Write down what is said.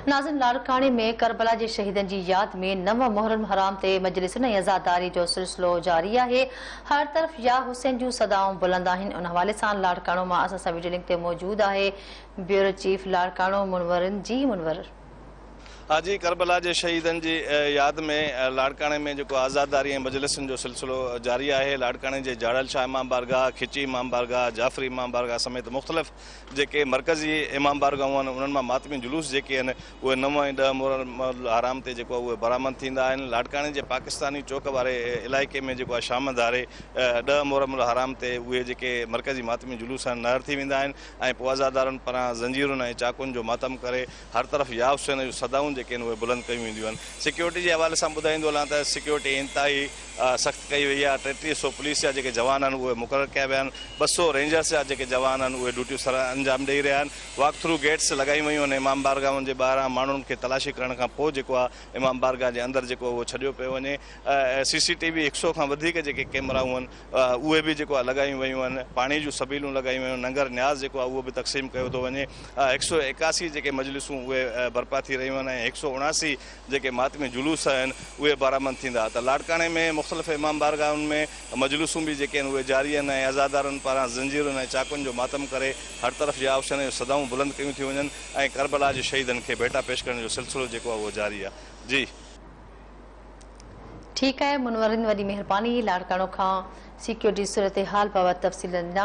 ناظم لاڙڪاڻي ۾ ڪربلا جي شهيدن جي ياد ۾ نو محرم حرام تي مجلسن ۽ عزاداري جو سلسلو جاري آهي، هر طرف يا حسين جون صدائون بلند آهن، ان حوالي سان لاڙڪاڻو مان اسان سان وڊيو لنڪ تي موجود آهي بيورو چيف لاڙڪاڻو منورن جي منور. اڄ ڪربلا جي شهيدن جي ياد ۾ لاڙڪاڻي ۾ جيڪو عزاداري ۽ مجلسن جو سلسلو جاري آهي، لاڙڪاڻي جي جاڙل شاهه امام بارگاهه، کچي امام بارگاهه، جعفري امام بارگاهه سميت مختلف جيڪي مرڪزي امام بارگاهون آهن انهن مان ماتمي جلوس جيڪي آهن اهي نو ۽ ڏهه محرم الحرام تي جيڪو آهي اهي برآمد ٿيندا آهن لاڙڪاڻي جي پاڪستاني چوڪ واري علائقي ۾ جيڪو آهي شام ڌاري ڏهه محرم الحرام تي اهي جيڪي مرڪزي ماتمي جلوس آهن نهر ٿي ويندا آهن ۽ پوء عزادارن پران زنجيرن ۽ چاقون جو ماتم ڪري هر طرف يا حسين جون صدائون جيڪي آهن اهي بلند ڪيون وينديون آهن سيڪيورٽي جي حوالي سان ٻڌائيندو هلان ته سيڪيورٽي انتهائي سخت ڪئي وئي آهي، ٽيٽيهه سؤ پوليس جا جيڪي جوان آهن اهي مقرر ڪيا ويا آهن، ٻه سؤ رينجرز جا جيڪي جوان آهن اهي ڊيوٽيون سر انجام ڏئي رهيا آهن، واڪ ٿرو گيٽس لڳايون ويون آهن، امام بارگاهن جي ٻاهران ماڻهن کي تلاشي ڪرڻ کان پوء جيڪو آهي امام بارگاهه جي اندر جيڪو اهو ڇڏيو پيو وڃي، سي سي ٽي وي هڪ سؤ کان وڌيڪ جيڪي ڪيمرائون آهن اهي به جيڪو آهي لڳايون ويون آهن، پاڻي جون سبيلون لڳايون ويون آهن، ننگر نياز جيڪو آهي اهو به تقسيم ڪيو ٿو وڃي، هڪ سؤ ايڪاسي جيڪي مجلسون اهي برپا ٿي رهيون آهن ۽ هڪ سؤ اڻاسي جيڪي ماتمي جلوس آهن اهي بارامند ٿيندا ته لاڙڪاڻي ۾ مختلف امام بارگاهن ۾ مجلسون به جيڪي آهن اهي جاري آهن ۽ عزادارن پاران زنجيرن ۽ چاقن جو ماتم ڪري هر طرف جي آوشين جون صدائون بلند ڪيون ٿيون وڃن ۽ ڪربلا جي شهيدن کي ڀيٽا پيش ڪرڻ جو سلسلو جيڪو آهي اهو جاري آهي جي ٺيڪ آهي منورن وڏي مهرباني لاڙڪاڻو کان سيڪيورٽي صورتحال بابت تفصيل ڏنا.